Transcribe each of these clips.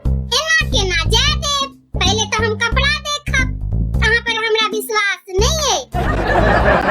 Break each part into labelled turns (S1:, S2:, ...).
S1: एना केना जाय देब पहिले तऽ हम कपड़ा देखब अहाँ पर हमरा विश्वास नहि अइ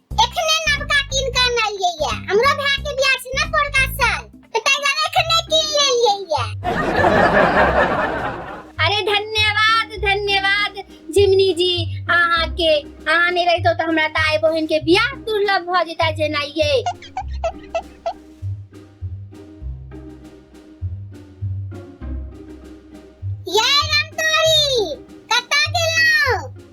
S1: एखने नवका कीन के अनलियै ये हमरो भाय के बियाह छै ने पोरका साल तऽ ताहि दुआरे एखने कीन लेलियै ये अरे धन्यवाद धन्यवाद जिमनी जी अहाँ के अहाँ नहीं रहितो तऽ हमरा दाई बहन के बियाह दुर्लभ भ जेता जेना ये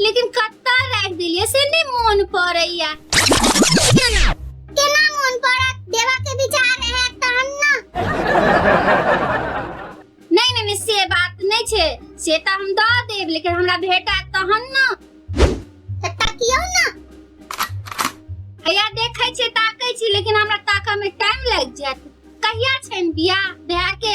S1: लेकिन कत्ता राख देलिए से नहीं मन पड़ैया केना मन पड़त देवा के विचार है तहन ना नहीं नहीं नहीं, से बात नहीं छे से त हम द देब लेकिन हमरा भेटा तहन ना तत्ता कियो ना हैया देखै छे ताकै छी लेकिन हमरा ताका में टाइम लग जात कहिया छैन बियाह भैया के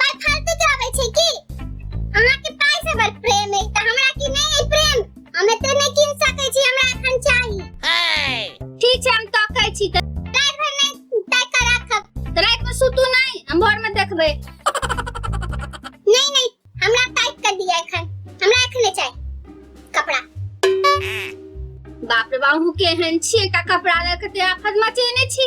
S1: पाई फालतू के आवे छै की अहाँ के पाई से बड़ प्रेम है त हमरा की नहीं है प्रेम हम एते नहीं किन सके छी हमरा एखन चाही ठीक छै हम तकै छी त रात भर नहीं तय कर राखब त रात में सुतू नहीं हम भोर में देखबै नहीं नहीं हमरा तय कर दिया एखन हमरा एखने चाही कपड़ा बाप रे बाप हूँ केहन छियै एकटा कपड़ा लऽ कऽ ते आफत मचेने छी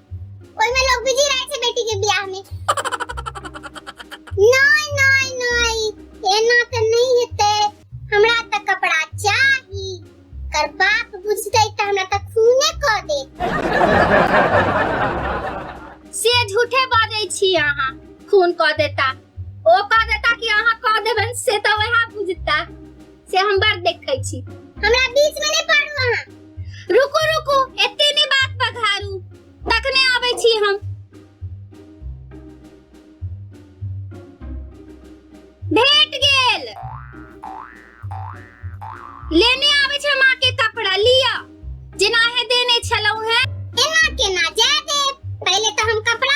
S1: ओहिमे लोग बिजी रहे छै बेटी के बियाह में नहीं नहीं नहीं एना त नहीं हेते हमरा त कपड़ा चाही कर बाप बुझते त हमरा त खूने क दे से झूठे बाजै छी अहाँ खून क देता ओ क देता कि अहाँ क देबन से त वएह बुझता से हम बड़ देखै छी हमरा बीच में नहीं पड़ू अहाँ रुको रुको एते ने बात पघारू तखने आबै छी हम भेट गेल लेने आबै छै माँ के कपड़ा लिया जेना हे देने छलौ है एना केना जाय देब पहिले तो हम कपड़ा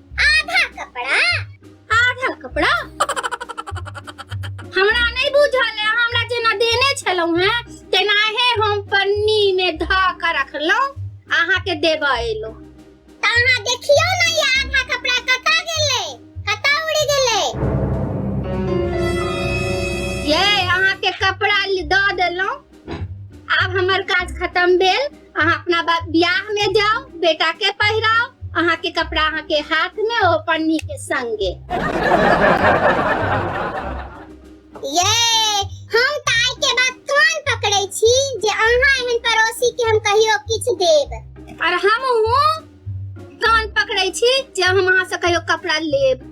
S1: आधा कपड़ा आधा कपड़ा हमरा नहीं बुझल है हमरा जेना देने छलहुँ हैं तेनाहे हम पन्नी में ध के रखलहुँ अहाँ के देबऽ एलहुँ तऽ अहाँ देखियौ ने ई आधा कपड़ा कतऽ गेलै कतऽ उड़ि गेलै ये अहाँ के कपड़ा ल- दऽ देलहुँ आब हमर काज खत्म भेल अहाँ अपना बा- बियाह में जाओ बेटा के पहिराओ अहाँ के कपड़ा अहाँ के हाथ में ओ पन्नी के संगे ये हम ताई के बात कान पकड़े छी जे अहाँ एहन पड़ोसी के हम कहियो किछु देब और हम हूँ कान पकड़े छी जे हम अहाँ से कहियो कपड़ा लेब